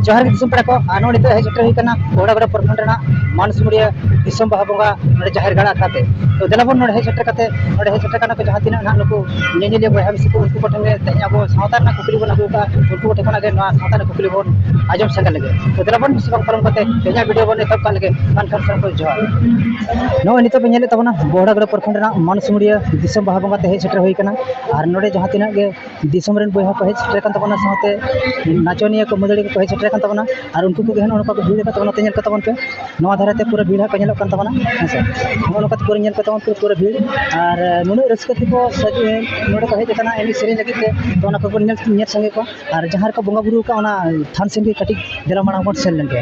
ᱡᱚᱦᱟᱨ ᱜᱮ ᱫᱤᱥᱚᱢ ᱯᱮᱲᱟ ᱠᱚ ᱟᱨ ᱱᱚᱜᱼᱚᱭ ᱱᱤᱛᱚᱜ ᱦᱮᱡ ᱥᱮᱴᱮᱨ ᱦᱩᱭ ᱠᱟᱱᱟ ᱵᱚᱲᱟᱜᱚᱲᱟ ᱯᱨᱚᱠᱷᱚᱸᱰ ᱨᱮᱱᱟᱜ ᱢᱟᱱᱥᱤᱢᱩᱲᱤᱭᱟᱹ ᱫᱤᱥᱚᱢ ᱵᱟᱦᱟ ᱵᱚᱸᱜᱟ ᱱᱚᱰᱮ ᱡᱟᱦᱮᱨ ᱜᱟᱲ ᱟᱠᱷᱲᱟ ᱛᱮ ᱛᱚ ᱫᱮᱞᱟ ᱵᱚᱱ ᱱᱚᱰᱮ ᱦᱮᱡ ᱥᱮᱴᱮᱨ ᱠᱟᱛᱮ ᱱᱚᱰᱮ ᱦᱮᱡ ᱥᱮᱴᱮᱨ ᱠᱟᱱᱟ ᱠᱚ ᱡᱟᱦᱟᱸ ᱛᱤᱱᱟᱹᱜ ᱱᱟᱦᱟᱜ ᱱᱩᱠᱩ ᱧᱮᱧᱮᱞᱤᱭᱟᱹ ᱵᱚᱭᱦᱟ ᱢᱤᱥᱤ ᱠᱚ ᱩᱱᱠᱩ ᱠᱚᱴᱷᱮᱱ ᱜᱮ ᱛᱮᱦᱮᱧ ᱟᱵᱚ ᱥᱟᱶᱛᱟ ᱨᱮᱱᱟᱜ ᱠᱩᱠᱞᱤ ᱵᱚᱱ ᱟᱹᱜᱩ ᱠᱟᱜᱼᱟ ᱩᱱᱠᱩ ᱠᱚᱴᱷᱮᱱ ᱠᱷᱚᱱᱟᱜ ᱜᱮ ᱱᱚᱣᱟ ᱥᱟᱶᱛᱟ ᱨᱮᱱᱟᱜ ᱠᱩᱠᱞᱤ ᱵᱚᱱ ᱟᱸᱡᱚᱢ ᱥᱮᱱ ᱞᱮᱜᱮ ᱛᱚ ᱫᱮᱞᱟ ᱵᱚᱱ ᱵᱮᱥᱤ ᱵᱟᱝ ᱯᱟᱨᱚᱢ ᱠᱟᱛᱮ ᱛᱮᱦᱮᱧᱟᱜ ᱵᱷᱤᱰᱤᱭᱳ ᱵᱚᱱ ᱮᱛᱚᱦᱚᱵ ᱠᱟᱜ ᱞᱮᱜᱮ ᱢᱮᱱᱠᱷᱟᱱ ᱥᱟᱱᱟᱢ ᱠᱚ ᱡᱚᱦᱟᱨ ᱱᱚᱜᱼᱚᱭ ᱱᱤᱛᱚᱜ ᱵᱚᱱ ᱧᱮᱞᱮᱫ ᱛᱟᱵᱚᱱᱟ ᱵᱚᱦᱲᱟᱜᱚᱲᱟ ᱯᱨᱚᱠᱷᱚᱸᱰ ᱨᱮᱱᱟᱜ ᱢᱟᱱᱥᱤᱢᱩᱲᱤᱭᱟᱹ ᱫᱤᱥᱚᱢ ᱵᱟᱦᱟ ᱵᱚᱸᱜᱟ ᱛᱮ ᱦᱮᱡ ᱥᱮᱴᱮᱨ ᱦᱩᱭ ᱠᱟᱱᱟ ᱟᱨ ᱱᱚᱰᱮ ᱡᱟᱦᱟᱸ ᱛᱤᱱᱟᱹᱜ ᱜᱮ ᱫᱤᱥᱚᱢ ᱨᱮᱱ ᱵᱚᱭᱦᱟ ᱠᱚ ᱦᱮᱡ ᱥᱮᱴᱮᱨ ᱠᱟᱱ ᱛᱟᱵᱚᱱᱟ ᱥᱟᱶᱛᱮ ᱱᱟᱪᱚᱱᱤᱭᱟᱹ ᱠᱚ ᱢᱟᱹᱫᱟᱹᱲᱤᱭᱟᱹ ᱠᱚᱠᱚ ᱦᱮᱡ ᱥᱮᱴᱮᱨ ᱠᱟᱱ ᱛᱟᱵᱚᱱᱟ ᱟᱨ ᱩᱱᱠᱩ ᱠᱚᱜᱮ ᱱᱚᱜᱼᱚᱸᱭ ᱱᱚᱝᱠᱟ ᱠᱚ ᱵᱷᱤᱲ ᱠᱟᱱ ᱛᱟᱵᱚᱱᱟ ᱱᱚᱛᱮ ᱧᱮᱞ ᱠᱚ ᱛᱟᱵᱚᱱ ᱯᱮ ᱱᱚᱣᱟ ᱫᱷᱟᱨᱮ ᱛᱮ ᱯᱩᱨᱟᱹ ᱵᱷᱤᱲ ᱦᱟᱸᱜ ᱠᱚ ᱧᱮᱞᱚᱜ ᱠᱟᱱ ᱛᱟᱵᱚᱱᱟ ᱦᱮᱸ ᱥᱮ ᱱᱚᱜᱼᱚᱸᱭ ᱱᱚᱝᱠᱟ ᱯᱩᱨᱟᱹ ᱧᱮᱞ ᱯᱮ ᱛᱟᱵᱚᱱ ᱯᱮ ᱯᱩᱨᱟᱹ ᱵᱷᱤᱲ ᱟᱨ ᱱᱩᱱᱟᱹᱜ ᱨᱟᱹᱥᱠᱟᱹ ᱛᱮᱠᱚ ᱱᱚᱰᱮ ᱠᱚ ᱦᱮᱡ ᱠᱟᱱᱟ ᱮᱱᱮᱡ ᱥᱮᱨᱮᱧ ᱞᱟᱹᱜᱤᱫ ᱛᱮ ᱛᱚ ᱚᱱᱟ ᱠᱚᱵᱚᱱ ᱧᱮᱞ ᱧᱮᱞ ᱥᱟᱸᱜᱮ ᱠᱚᱣᱟ ᱟᱨ ᱡᱟᱦᱟᱸ ᱨᱮᱠᱚ ᱵᱚᱸᱜᱟᱼᱵᱩᱨᱩ ᱠᱟᱜᱼᱟ ᱚᱱᱟ ᱛᱷᱟᱱ ᱥᱮᱫ ᱜᱮ ᱠᱟᱹᱴᱤᱡ ᱫᱮᱞᱟ ᱢᱟᱲᱟᱝ ᱵᱚᱱ ᱥᱮᱱ ᱞᱮᱱ ᱜᱮ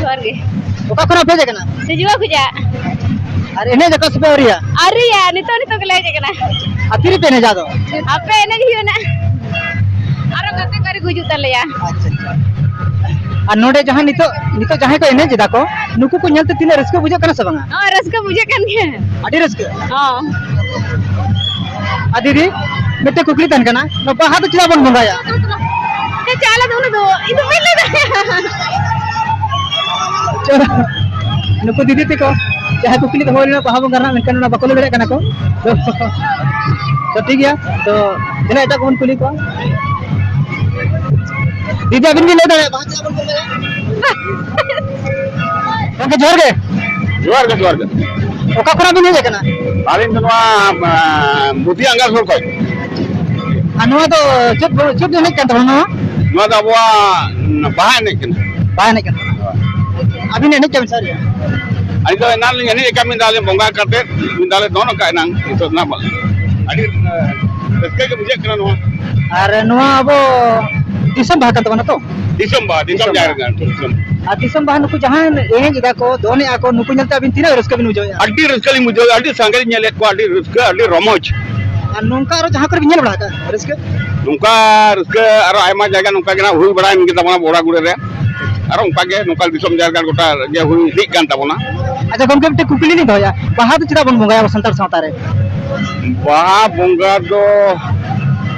ᱡᱚᱦᱟᱨ ᱜᱮ ᱚᱠᱟ ᱠᱷᱚᱱᱟᱜ ᱯᱮ ᱦᱮᱡ ᱟᱠᱟᱱᱟ ᱥᱤᱡᱩᱣᱟ ᱠᱷᱚᱡᱟᱜ ᱟᱨ ᱮᱱᱮᱡ ᱟᱠᱚ ᱥᱮ ᱯᱮ ᱟᱹᱣᱨᱤᱭᱟ ᱟᱹᱣᱨᱤᱭᱟ ᱱᱤᱛᱚᱜ ᱱᱤᱛᱚᱜ ᱜᱮᱞᱮ ᱦᱮᱡ ᱟᱠᱟᱱᱟ ᱟᱨ ᱛᱤᱨᱮ ᱯᱮ ᱮᱱᱮᱡᱟ ᱟᱫᱚ ᱟᱯᱮ ᱮᱱᱮᱡ ᱦᱩᱭᱩᱜ ᱱᱟ ᱟᱨᱚ ᱜᱟᱛᱮ ᱠᱚ ᱟᱹᱣᱨᱤ ᱠᱚ ᱦᱤᱡᱩᱜ ᱛᱟᱞᱮᱭᱟ ᱟᱪᱪᱷᱟ ᱟᱪᱪᱷᱟ ᱟᱨ ᱱᱚᱰᱮ ᱡᱟᱦᱟᱸ ᱱᱤᱛᱚᱜ ᱱᱤᱛᱚᱜ ᱡᱟᱦᱟᱸᱭ ᱠᱚ ᱮᱱᱮᱡ ᱮᱫᱟ ᱠᱚ ᱱᱩᱠᱩ ᱠᱚ ᱧᱮᱞᱛᱮ ᱛᱤᱱᱟᱹᱜ ᱨᱟᱹᱥᱠᱟᱹ ᱵᱩᱡᱷᱟᱹᱜ ᱠᱟᱱᱟ ᱥᱮ ᱵᱟᱝᱟ ᱦᱚᱸ ᱨᱟᱹᱥᱠᱟᱹ ᱵᱩᱡᱷᱟᱹᱜ ᱠᱟᱱ ᱜᱮᱭᱟ ᱟᱹᱰᱤ ᱨᱟᱹᱥᱠᱟᱹ ᱦᱚᱸ ᱟᱨ ᱫᱤᱫᱤ ᱢᱤᱫᱴᱮᱡ ᱠᱩᱠᱞᱤ ᱛᱟᱦᱮᱱ ᱠᱟᱱᱟ ᱵᱟᱦᱟ ᱫᱚ ᱪᱮᱫᱟᱜ ᱵᱚᱱ ᱵᱚᱸᱜᱟᱭᱟ? ᱪᱟᱞ ᱫᱚ ᱩᱱᱟᱹᱜ ᱫᱚ ᱤᱧ ᱫᱚ ᱵᱟᱹᱧ ᱞᱟᱹᱭ ᱫᱟᱲᱮᱭᱟᱜᱼᱟ ᱱᱩᱠᱩ ᱫᱤᱫᱤ ᱛᱮᱠᱚ ᱡᱟᱦᱟᱸᱭ ᱠᱩᱠᱞᱤ ᱫᱚᱦᱚ ᱞᱮᱱᱟ ᱵᱟᱦᱟ ᱵᱚᱸᱜᱟ ᱨᱮᱱᱟᱜ ᱢᱮᱱᱠᱷᱟᱱ ᱚᱱᱟ ᱵᱟᱠᱚ ᱞᱟᱹᱭ ᱫᱟᱲᱮᱭᱟᱜ ᱠᱟᱱᱟ ᱠᱚ ᱛᱚ ᱴᱷᱤᱠ ᱜᱮᱭᱟ ᱛᱚ ᱛᱤᱱᱟᱹ ᱮᱴᱟᱜ ᱠᱚᱵᱚᱱ ᱠᱩᱞᱤ ᱠᱚᱣᱟ ᱫᱤᱫᱤ ᱟᱵᱤᱱ ᱵᱤᱱ ᱞᱟᱹᱭ ᱫᱟᱲᱮᱭᱟᱜᱼᱟ ᱵᱟᱦᱟ ᱪᱮᱫᱟᱜ ᱵᱚᱱ ᱵᱚᱸᱜᱟᱭᱟ? ᱜᱚᱝᱠᱮ ᱡᱚᱦᱟᱨ ᱜᱮ ᱡᱚᱦᱟᱨ ᱜᱮ ᱡᱚᱦᱟᱨ ᱜᱮ ᱚᱠᱟ ᱠᱷᱚᱱᱟᱜ ᱵᱤᱱ ᱦᱮᱡ ᱟᱠᱟᱱᱟ ᱟᱹᱞᱤᱧ ᱫᱚ ᱱᱚᱣᱟ ᱵᱩᱫᱷᱤ ᱟᱸᱜᱟ ᱥᱩᱨ ᱠᱷᱚᱡ ᱟᱨ ᱱᱚᱣᱟ ᱫᱚ ᱪᱮᱫ ᱪᱮᱫ ᱮᱱᱮᱡ ᱠᱟᱱ ᱛᱟᱵᱚᱱᱟ ᱱᱚᱣᱟ ᱱᱚᱣᱟ ᱫᱚ ᱟᱵᱚᱣᱟᱜ ᱵᱟᱦᱟ ᱮᱱᱮᱡ ᱠᱟᱱᱟ ᱵᱟᱦᱟ ᱮᱱᱮᱡ ᱠᱟᱱᱟ ᱟᱹᱵᱤᱱ ᱮᱱᱮᱡ ᱠᱟᱱ ᱥᱟᱹᱨᱤ ᱟᱹᱞᱤᱧ ᱫᱚ ᱮᱱᱟᱝ ᱞᱤᱧ ᱮᱱᱮᱡ ᱟᱠᱟᱫ ᱢᱤᱫ ᱫᱷᱟᱣ ᱞᱤᱧ ᱵᱚᱸᱜᱟ ᱠᱟᱛᱮᱫ ᱢᱤᱫ ᱫᱷᱟᱣ ᱞᱮ ᱫᱚᱱ ᱟᱠᱟᱫ ᱮᱱᱟᱝ ᱱᱤᱛᱚᱜ ᱱᱟᱜ ᱟᱹᱰᱤ ᱨᱟᱹᱥᱠᱟᱹ ᱜᱮ ᱵᱩᱡᱷᱟᱹᱜ ᱠᱟᱱᱟ ᱱᱚᱣᱟ ᱟᱨ ᱱᱚᱣᱟ ᱟᱵᱚ ᱫᱤᱥᱚᱢ ᱵᱟᱦᱟ ᱠᱟᱱ ᱛᱟᱵᱚᱱᱟ ᱛᱚ ᱫᱤᱥᱚᱢ ᱵᱟᱦᱟ ᱫᱤᱥᱚᱢ ᱡᱟᱦᱮᱨ ᱜᱟᱲ ᱫᱤᱥᱚᱢ ᱟᱨ ᱫᱤᱥᱚᱢ ᱵᱟᱦᱟ ᱱᱩᱠᱩ ᱡᱟᱦᱟᱸ ᱮᱱᱮᱡ ᱮᱫᱟ ᱠᱚ ᱫᱚᱱ ᱮᱫᱟ ᱠᱚ ᱱᱩᱠᱩ ᱧᱮᱞᱛᱮ ᱟᱹᱵᱤᱱ ᱛᱤᱱᱟᱹᱜ ᱨᱟᱹᱥᱠᱟᱹ ᱵᱤᱱ ᱵᱩᱡᱷᱟᱹᱣᱮᱫᱼᱟ ᱟᱹᱰᱤ ᱨᱟᱹᱥᱠᱟᱹ ᱞᱤᱧ ᱵᱩᱡᱷᱟᱹᱣ ᱟᱹᱰᱤ ᱥᱟᱸᱜᱮ ᱞᱤᱧ ᱧᱮᱞᱮᱫ ᱠᱚᱣᱟ ᱟᱹᱰᱤ ᱨᱟᱹᱥᱠᱟᱹ ᱟᱹᱰᱤ ᱨᱚᱢᱚᱡᱽ ᱟᱨ ᱱᱚᱝᱠᱟ ᱟᱨᱚ ᱡᱟᱦᱟᱸ ᱠᱚᱨᱮ ᱵᱤᱱ ᱧᱮᱞ ᱵᱟᱲᱟ ᱟᱠᱟᱫᱼᱟ ᱨᱟᱹᱥᱠᱟᱹ ᱱᱚᱝᱠᱟ ᱨᱟᱹᱥᱠᱟᱹ ᱟᱨᱚ ᱟᱭᱢᱟ ᱡᱟᱭᱜᱟ ᱱᱚᱝᱠᱟ ᱜᱮ ᱱᱟᱜ ᱦᱩᱭ ᱵᱟᱲᱟᱭᱮᱱ ᱜᱮ ᱛᱟᱵᱚᱱᱟ ᱵᱚᱲᱟ ᱜᱩᱲᱟᱹ ᱨᱮ ᱟᱨᱚ ᱚᱱᱠᱟ ᱜᱮ ᱱᱚᱝᱠᱟ ᱫᱤᱥᱚᱢ ᱡᱟᱦᱮᱨ ᱜᱟᱲ ᱜᱚᱴᱟ ᱜᱮ ᱦᱩᱭ ᱤᱫᱤᱜ ᱠᱟᱱ ᱛᱟᱵᱚᱱᱟ ᱟᱪᱪᱷᱟ ᱜᱚᱢᱠᱮ ᱢᱤᱫᱴᱮᱱ ᱠᱩᱠᱞᱤ ᱞᱤᱧ ᱫᱚᱦᱚᱭᱟ ᱵᱟᱦᱟ ᱫᱚ ᱪᱮᱫᱟᱜ ᱵᱚᱱ ᱵᱚᱸᱜᱟᱭᱟ ᱟᱵᱚ ᱥᱟᱱᱛᱟᱲ ᱥᱟᱶᱛᱟ ᱨᱮ ᱵᱟᱦᱟ ᱵᱚᱸᱜᱟ ᱫᱚ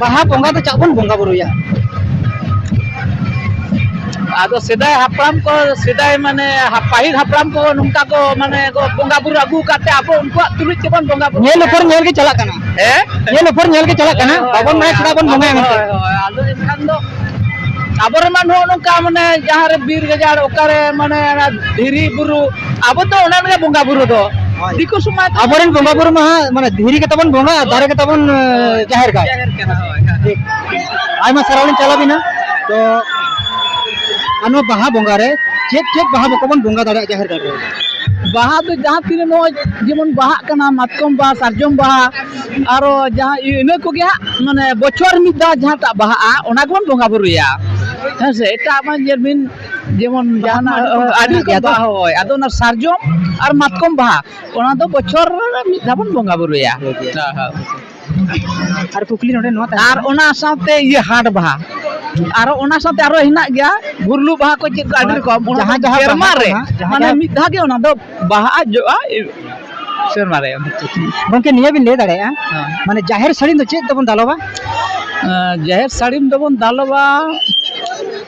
ᱵᱟᱦᱟ ᱵᱚᱸᱜᱟ ᱫᱚ ᱪᱟᱜ ᱵᱚᱱ ᱵᱚᱸᱜᱟ ᱵᱩᱨᱩᱭᱟ ᱟᱫᱚ ᱥᱮᱫᱟᱭ ᱦᱟᱯᱲᱟᱢ ᱠᱚ ᱥᱮᱫᱟᱭ ᱢᱟᱱᱮ ᱦᱟ- ᱯᱟᱹᱦᱤᱞ ᱦᱟᱯᱲᱟᱢ ᱠᱚ ᱱᱚᱝᱠᱟ ᱠᱚ ᱢᱟᱱᱮ ᱠᱚ ᱵᱚᱸᱜᱟ ᱵᱩᱨᱩ ᱟᱹᱜᱩ ᱟᱠᱟᱫ ᱛᱮ ᱟᱵᱚ ᱩᱱᱠᱩᱣᱟᱜ ᱛᱩᱞᱩᱡ ᱛᱮᱵᱚᱱ ᱵᱚᱸᱜᱟ ᱵᱩᱨᱩ ᱧᱮᱞ ᱩᱯᱚᱨ ᱧᱮᱞ ᱜᱮ ᱪᱟᱞᱟᱜ ᱠᱟᱱᱟ ᱦᱮᱸ ᱧᱮᱞ ᱩᱯᱚᱨ ᱧᱮᱞ ᱜᱮ ᱪᱟᱞᱟᱜ ᱠᱟᱱᱟ ᱵᱟᱵᱚᱱ ᱵᱟᱲᱟᱭᱟ ᱪᱮᱫᱟᱜ ᱵᱚᱱ ᱵᱚᱸᱜᱟᱭᱟ ᱢᱮᱱᱛᱮ ᱦᱳᱭ, ᱦᱳᱭ, ᱟᱫᱚ ᱮᱱᱠᱷᱟᱱ ᱫᱚ ᱟᱵᱚᱨᱮᱱ ᱢᱟ ᱱᱚᱜᱼᱚ ᱱᱚᱝᱠᱟ ᱢᱟᱱᱮ ᱡᱟᱦᱟᱸᱨᱮ ᱵᱤᱨ ᱜᱟᱡᱟᱲ ᱚᱠᱟᱨᱮ ᱢᱟᱱᱮ ᱚᱱᱟ ᱫᱷᱤᱨᱤ ᱵᱩᱨᱩ ᱟᱵᱚ ᱫᱚ ᱚᱱᱟ ᱨᱮᱜᱮ ᱵᱚᱸᱜᱟ ᱵᱩᱨᱩ ᱫᱚ ᱫᱤᱠᱩ ᱥᱚᱢᱟᱡᱽ ᱟᱵᱚᱨᱮᱱ ᱵᱚᱸᱜᱟ ᱵᱩᱨᱩ ᱢᱟ ᱢᱟᱱᱮ ᱫᱷᱤᱨᱤ ᱜᱮ ᱛᱟᱵᱚᱱ ᱵᱚᱸᱜᱟ ᱫᱟᱨᱮ ᱜᱮ ᱛᱟᱵᱚᱱ ᱡᱟᱦᱮᱨ ᱜᱟᱲ ᱴᱷᱤᱠ ᱟᱭᱢᱟ ᱥᱟᱨᱦᱟᱣ ᱞᱤᱧ ᱪᱟᱞᱟᱣ ᱵᱤᱱᱟ ᱛᱚ ᱟᱨ ᱱᱚᱣᱟ ᱵᱟᱦᱟ ᱵᱚᱸᱜᱟ ᱨᱮ ᱪᱮᱫ ᱪᱮᱫ ᱵᱟᱦᱟ ᱵᱚᱠᱚ ᱵᱚᱱ ᱵᱚᱸᱜᱟ ᱫᱟᱲᱮᱭᱟᱜᱼᱟ ᱡᱟᱦᱮᱨ ᱜᱟᱲ ᱨᱮ ᱵᱟᱦᱟ ᱫᱚ ᱡᱟᱦᱟᱸ ᱛᱤᱱᱟᱹᱜ ᱱᱚᱜᱼᱚᱭ ᱡᱮᱢᱚᱱ ᱵᱟᱦᱟᱜ ᱠᱟᱱᱟ ᱢᱟᱛᱠᱚᱢ ᱵᱟᱦᱟ ᱥᱟᱨᱡᱚᱢ ᱵᱟᱦᱟ ᱟᱨᱚ ᱡᱟᱦᱟᱸ ᱤᱱᱟᱹ ᱠᱚᱜᱮ ᱦᱟᱸᱜ ᱢᱟᱱᱮ ᱵᱚᱪᱷᱚᱨ ᱢᱤᱫ ᱫᱷᱟᱣ ᱡᱟᱦᱟᱸᱴᱟᱜ ᱵᱟᱦᱟᱜᱼᱟ ᱚᱱᱟ ᱜᱮᱵᱚᱱ ᱵᱚᱸᱜᱟ ᱵᱩᱨᱩᱭᱟ ᱦᱮᱸ ᱥᱮ ᱮᱴᱟᱜ ᱢᱟ ᱧᱮᱞ ᱵᱤᱱ ᱡᱮᱢᱚᱱ ᱡᱟᱦᱟᱱᱟᱜ ᱟᱹᱰᱤ ᱠᱚ ᱵᱟᱦᱟ ᱦᱳᱭ ᱟᱫᱚ ᱚᱱᱟ ᱥᱟᱨᱡᱚᱢ ᱟᱨ ᱢᱟᱛᱠᱚᱢ ᱵᱟᱦᱟ ᱚᱱᱟ ᱫᱚ ᱵᱚᱪᱷᱚᱨ ᱨᱮ ᱢᱤᱫ ᱫᱷᱟᱣ ᱵᱚᱱ ᱵᱚᱸᱜᱟ ᱵᱩᱨᱩᱭᱟ ᱟᱨ ᱠᱩᱠᱞᱤ ᱱᱚᱰᱮ ᱱᱚᱣᱟ ᱟᱨ ᱚᱱᱟ ᱥᱟᱶᱛᱮ ᱤᱭᱟᱹ ᱦᱟᱴ ᱵᱟᱦᱟ ᱟᱨᱚ ᱚᱱᱟ ᱥᱟᱶᱛᱮ ᱟᱨᱚ ᱦᱮᱱᱟᱜ ᱜᱮᱭᱟ ᱜᱩᱨᱞᱩ ᱵᱟᱦᱟ ᱠᱚ ᱪᱮᱫ ᱠᱚ ᱟᱹᱰᱤ ᱨᱚᱠᱚᱢ ᱡᱟᱦᱟᱸ ᱡᱟᱦᱟᱸ ᱥᱮᱨᱢᱟ ᱨᱮ ᱢᱟᱱᱮ ᱢᱤᱫ ᱫᱷᱟᱣ ᱜᱮ ᱚᱱᱟ ᱫᱚ ᱵᱟᱦᱟ ᱡᱚᱜᱼᱟ ᱥᱮᱨᱢᱟ ᱨᱮ ᱜᱚᱢᱠᱮ ᱱᱤᱭᱟᱹ ᱵᱤᱱ ᱞᱟᱹᱭ ᱫᱟᱲᱮᱭᱟᱜᱼᱟ ᱢᱟᱱᱮ ᱡᱟᱦᱮᱨ ᱥᱟᱹᱲᱤᱢ ᱫᱚ ᱪᱮᱫ ᱛᱮᱵᱚᱱ ᱫᱟᱞᱚᱵᱟ ᱡᱟᱦᱮᱨ ᱥᱟᱹᱲᱤᱢ ᱫᱚᱵᱚᱱ ᱫᱟᱞᱚᱵᱟ